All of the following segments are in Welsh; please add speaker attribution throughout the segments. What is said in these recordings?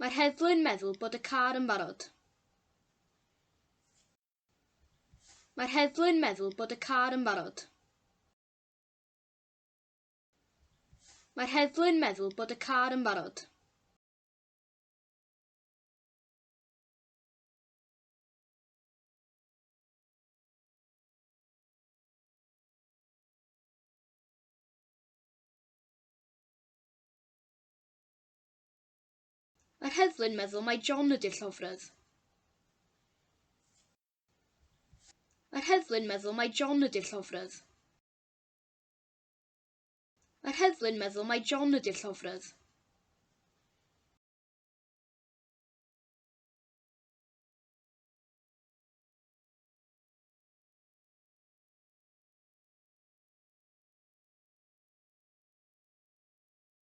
Speaker 1: Mae'r heddlu'n meddwl bod y car yn barod. Mae'r heddlu'n meddwl bod y car yn barod. Mae'r heddlu'n meddwl bod y car yn barod. Mae'r heddlu'n meddwl mai John ydy'r llofrudd. Mae'r heddlu'n meddwl mai John ydy'r llofrudd. Mae'r heddlu'n meddwl mai John ydy'r llofrudd.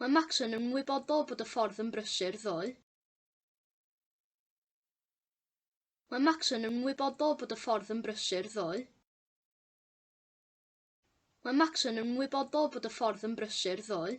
Speaker 1: Mae Max yn ymwybodol bod y ffordd yn brysur, ddoe. Mae Max yn ymwybodol bod y ffordd yn brysur, ddoe. Mae Max yn ymwybodol bod y ffordd yn brysur, ddoe.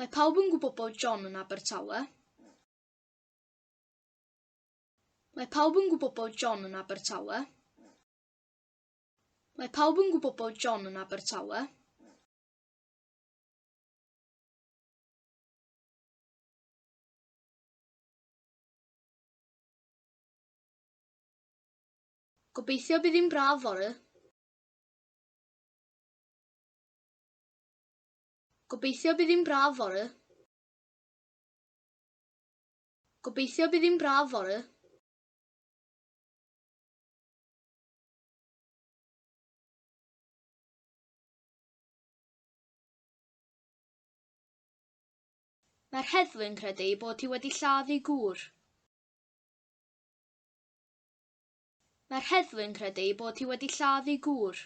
Speaker 1: Mae pawb yn gwybod bod John yn Abertawe. Mae pawb yn gwybod bod John yn Abertawe. Mae pawb yn gwybod bod John yn Abertawe. Gobeithio bydd hi'n braf fory. Gobeithio bydd hi'n braf fory. Gobeithio bydd hi'n braf fory. Mae'r heddlu'n credu ei bod hi wedi lladd ei gŵr. Mae'r heddlu'n credu ei bod hi wedi lladd ei gŵr.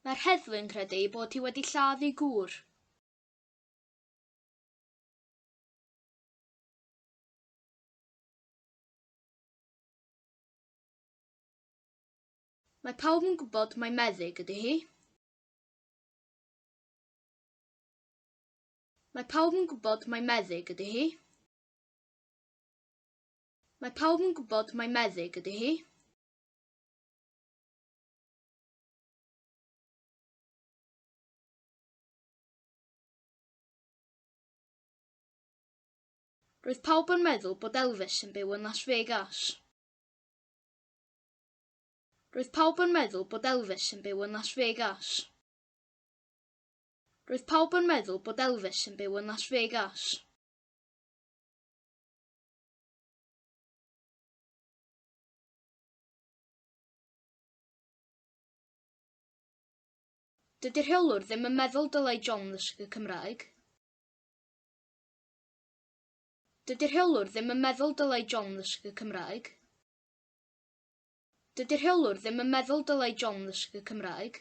Speaker 1: Mae'r heddlu'n credu ei bod hi wedi lladd ei gŵr. Mae pawb yn gwybod mai meddyg ydy hi. Mae pawb yn gwybod mai meddyg ydy hi. Mae pawb yn gwybod mai meddyg ydy hi. Roedd pawb yn meddwl bod Elvis yn byw yn Las Vegas. Roedd pawb yn meddwl bod Elvis yn byw yn Las Vegas. Roedd pawb yn meddwl bod Elvis yn byw yn Las Vegas. Dydy rheolwr ddim yn meddwl dylai John ddysgu Cymraeg. Dydy rheolwr ddim yn meddwl dylai John ddysgu Cymraeg. Dydy rheolwr ddim yn meddwl dylai John ddysgu Cymraeg.